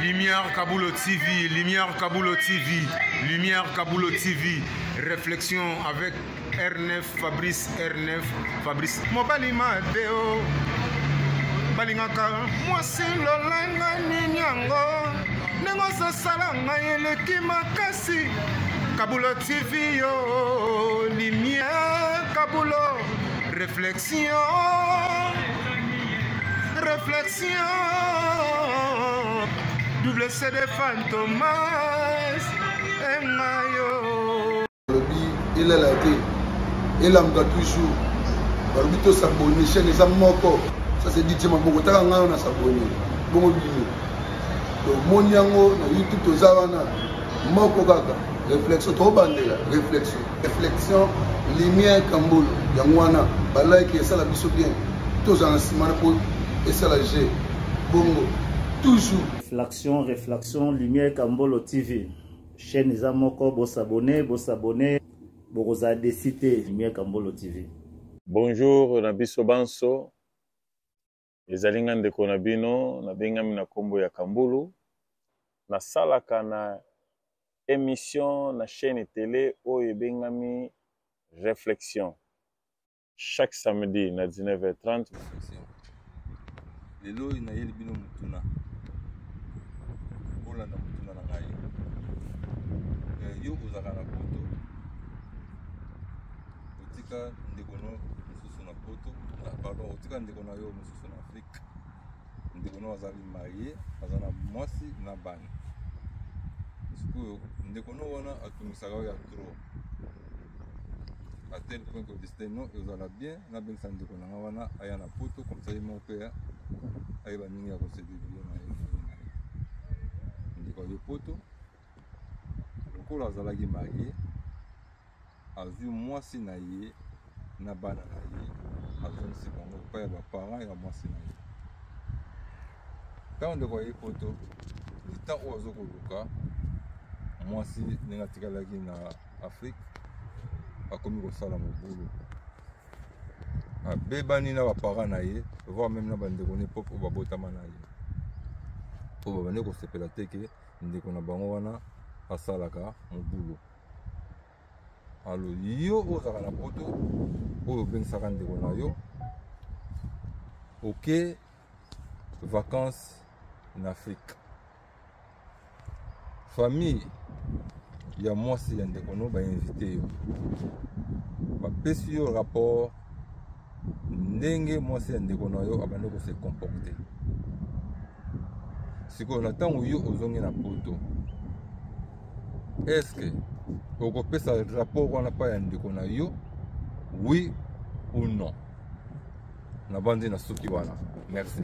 Lumière Kabulo TV, Lumière Kabulo TV, Lumière Kabulo TV, réflexion avec R9, Fabrice R9, Fabrice. Mobali Mateo, balingaka mwasi lolanga nini yango ndenge ozosala ngai eleki makasi Kabulo TV yo, Lumière Kabulo, réflexion. Réflexion, double CD Fantomas, et Mayo. Il est là, il est là, toujours. balobi tosabone chaine eza moko ça c'est dit maboko taka ngai wana sabone bongo bino tomoni yango na youtube toza wana moko kaka réflexion tobandela réflexion reflexion lumière kambolo yango wana balike esala biso bien tozala na nsima na po esala je bongo toujours reflexion reflexion lumière kambolo tv chaîne eza moko bosabone bosabone bokozala desi te lumière kambolo tv bonjour na biso banso Ezali nga ndeko na bino nabengami na nkombo ya Kambulu, nasalaka na emission na chaîne tele oyo ebengami Reflexion chaque samedi na 19h30. Lelo oyo nayeli bino motuna bolanda motuna na ngai eh, yo ozalaka na poto otika ndeko no mosusu na poto na pardon otika ndeko na yo mosusu na afrique ndeko na yo azali marie aza na mwasi na bana sikoyo ndeko no wana atungisaka yo ya trop à tel point que destin no ezala bien nabengisa ndeko na nga wana aya na poto comme ça ye moko mpe ayeba ndenge ya kosedevie na ye ndeko aye poto lokola azalaki marie azwi mwasi na ye na bana na ye azongisi bango epai ya baparent ya mwasi na ye ntango ndeko aye poto ntango oyo azo koluka mwasi ndenge atikalaki na afrike akomi kosala mobulu abebani na baparent na ye voir meme na bandeko ne pop oyo babotama na ye oyo babandi kosepela te ke ndeko na bango wana asalaka mobulu alo yo ozalaka na poto oyo obengisaka ndeko na yo oke vacances na afrique famille ya mwasi ya ndeko no bainvite yo bapesi yo rapport ndenge mwasi ya ndeko na yo abandi kose comporte sikoyo na ntango yo ozongi na poto eske okopesa rapport wana mpa ya ndeko na yo oui ou non nabandi na suki wana merci